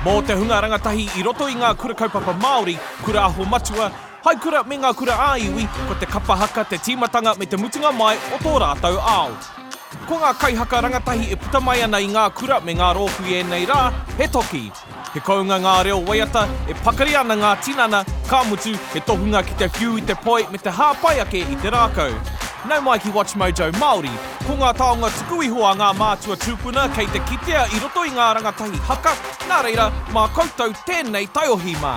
Mō te hunga rangatahi i roto i ngā Kura Kaupapa Māori, Kura Aho Matua, Hai Kura me ngā Kura ā Iwi, ko te kapa haka te tīmatanga me te mutunga mai o tō rātou ao. Ko ngā kaihaka rangatahi e puta mai ana i ngā kura me ngā rōpū i ēnei rā, he toki. He kounga ngā reo waiata, e pakari ana ngā tinana, ka mutu, he tohunga ki te whiu i te poi me te hāpai ake i te rākau. Nau mai ki WatchMojo Māori, ko ngā taonga tuku iho a ngā mātua tūpuna kei te kitea i roto i ngā rangatahi haka, nā reira, mā koutou tēnei taiohi mā.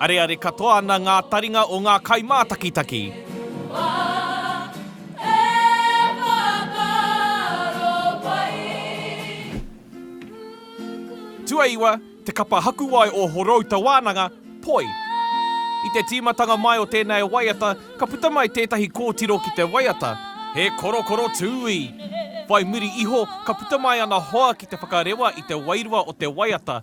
Areare katoa ana ngā taringa o ngā kaimātakitaki. Tuaiwa, te kapa hakuwae o Horouta Wānanga, poi. I te tīmatanga mai o tēnei waiata, ka puta mai tētahi kōtiro ki te waiata, He korokoro tūī! Whai muri iho, ka puta mai ana hoa ki te whakarewa i te wairua o te waiata,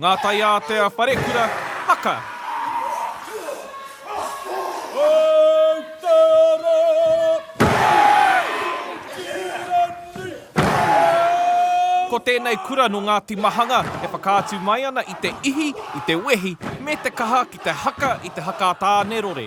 Ngā taiātea wharekura haka. Ko tēnei kura nō Ngāti Mahanga e whakaatu mai ana i te ihi, i te wehi, me te kaha ki te haka i te haka a Tānerore.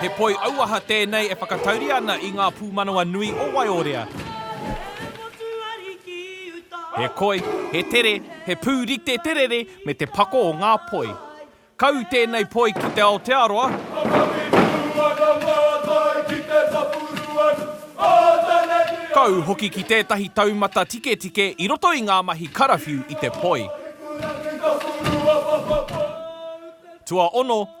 He poi auaha tēnei e whakatauria ana i ngā pūmanawa nui o Waiorea. He koi, he tere, he pū rite te rere me te pako o ngā poi. Kau tēnei poi ki te Aotearoa. Kau hoki ki tētahi taumata tiketike i roto i ngā mahi karawhiu i te poi. Tuaono.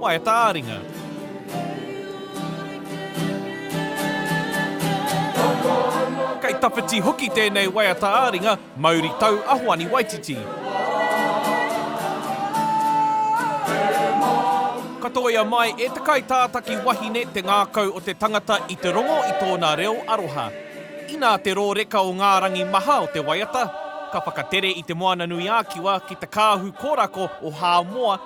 Waea tāringa. Kei tawhiti hoki tēnei waea tāringa, mauri tau a Hoani Waititi. Ka tōia mai e te kaitātaki wahine te ngākau o te tangata i te rongo i tōna reo aroha. Inā te rōreka o ngā rangi maha o te waiata, ka whakatere i Te Moananui-ā-Kiwa ki te kāhu kōrako o Hāmoa,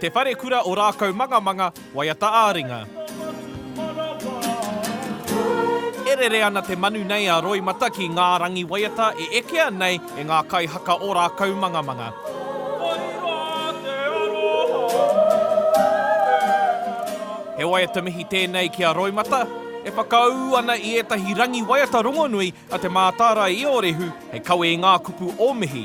Te Wharekura o Rākaumangamanga, waiata ā-ringa. E rere ana te manu nei a Roimata ki ngā rangi waiata e ekea nei e ngā kaihaka o Rākaumangamanga. He waiata mihi tēnei ki a Roimata, e whakaū ana i ētahi rangi waiata rongonui a Te Mātārae i ō rehu hei kawe i ngā kupu o mihi.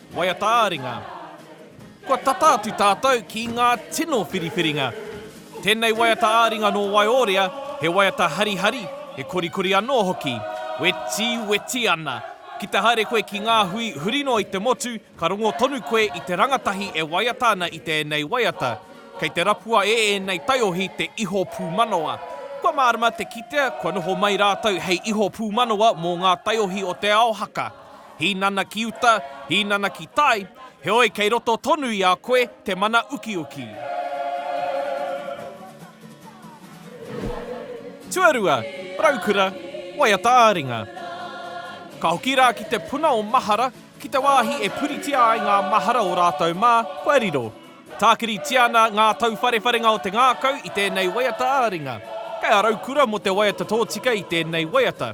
Waiata ā-ringa. Kua tata atu tātou ki ngā tino whiriwhiringa. Tēnei waiata ā-ringa nō Waiorea, he waiata harihari, he korikori anō hoki. Weti, weti ana. Ki te haere koe ki ngā hui huri noa i te motu, ka rongo tonu koe i te rangatahi e waiata ana i tēnei waiata. Kei te rapua e ēnei taiohi te iho pūmanawa. Kua mārama te kitea kua noho mai rātou hei iho pūmanawa mō ngā taiohi o te ao haka. Hīnana ki uta, hīnana ki tai, heoi kei roto tonu i a koe te mana ukiuki. Tuarua, Raukura, waiata ā-ringa. Ka hoki rā ki te puna o mahara, ki te wāhi e puritia ai ngā mahara o rātou mā, kua riro. Tākiritia ana ngā tauwharewharenga o te ngākau i tēnei waiata ā-ringa. Kei a Raukura mō te waiata tōtika i tēnei waiata.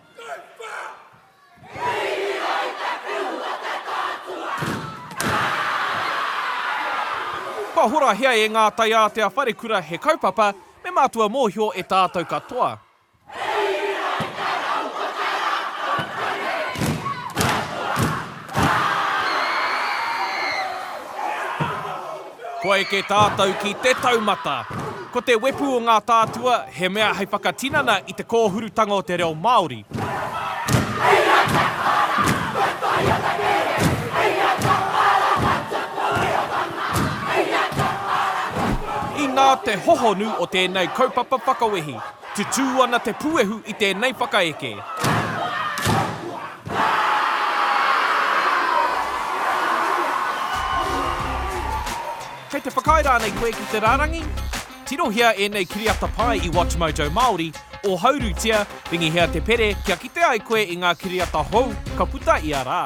Kua horahia e ngā taiātea wharekura he kaupapa me mātua mōhio e tātou katoa. Kua eke tātou ki te taumata. Ko te wepu o ngā tātua, he mea hei whakatinana i te kōhurutanga o te reo Māori. Inā te hohonu o tēnei kaupapa whakawehi. Tutū ana te puehu i tēnei whakaeke. Kei te whakaae rānei koe ki te rārangi? Tirohia ēnei kiriata pai i WatchMojo Māori, ōhaurutia, ringihia te pere kia kite ai koe i ngā kiriata hou ka puta ia rā.